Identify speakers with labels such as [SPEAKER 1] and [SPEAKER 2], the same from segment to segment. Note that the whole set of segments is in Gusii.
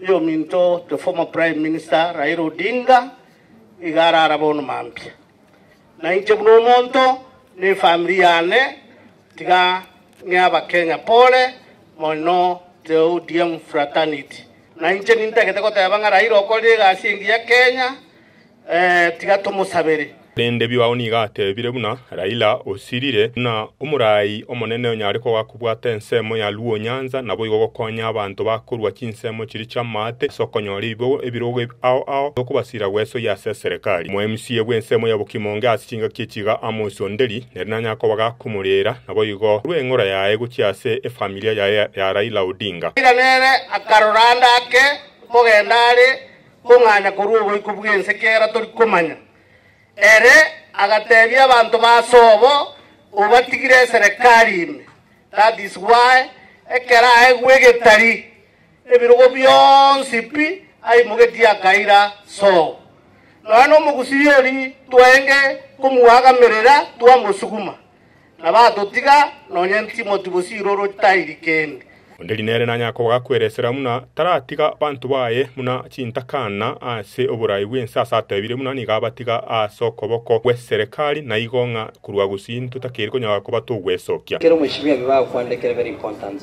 [SPEAKER 1] Oyominto the former prime minister Raila Odinga iga arara bono mambia. Na inche buna omonto na efamiri yane tiga ng'e abakenya pole moni no the ODM fraternity. Na inche nintagete goteba ng'a Raila okorire egasi engiya Kenya. Ee, tiga tomosabere. Korende Biwao nigo
[SPEAKER 2] ateebire buna Raila osirire, buna omoraai omonene onyare kogaa kobwata ensemo ya Luo Nyanza, naboigo gokonya abanto bakorua chinsemo chiria chi'amaate ase okonyora ebibogo ebirogo ao ao bi'okobasira gwesoyia ase eserekari. Omo MCA bw'ensemo ya Bokimonge ase chingaki echi iga Amos Onderi, nere nanyare koba gakomoreera, naboigo korwa eng'ora yaye gochia ase efamilia yaye ya Raila Odinga. Raila nere
[SPEAKER 1] akarora ande ake kogenda are Kong'anya korwa oboiko bw'ense kera tori komanya. Ere agateebia abanto ba Sobo, Obatigire eserekari ime, that is why ekero aegwe egetari, ebirogo bionsi pi aimogetie akaira Sobo. Nonya nomogusii ori twaenge komuagamerera twamosuguma. Na batotiga, nonya ntimoti gose iroro tairi kende. Onde Rinere nanya
[SPEAKER 2] kobakwera esera buna taratiga banto baye buna chintakana ase oborai bw'ense ase atebire buna nigo abatiga ase okoboko gw'eserekari na igo ng'a korwa gusii ntotakeri konyara kobata ogwesokia. Kera omochie bw'ebi
[SPEAKER 3] bagokwandekerwa very important.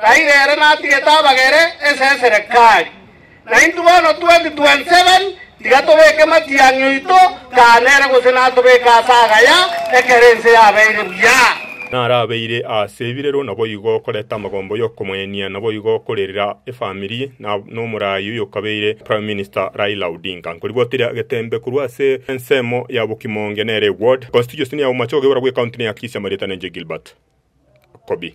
[SPEAKER 1] Taiga ere natigete abagere esesere kari. Naintwe bono 2027 tiga tobeke matiang'i oito kaa nere gose natobeke ase agaya ekero ense yabeire buya. Narabeire
[SPEAKER 2] aase ebirero naboigo okoreta amagombo yokomoenia naboigo okorerera efamiri na nomorai oyokabeire Prime Minister Raila Odinga. Nkoribwatire agetembe korwa ase ensemo ya Bokimonge nere eward, constituency ya Umachoge orabwo ecounty ne ya Kisii amarieta nenche Gilbert Kobi.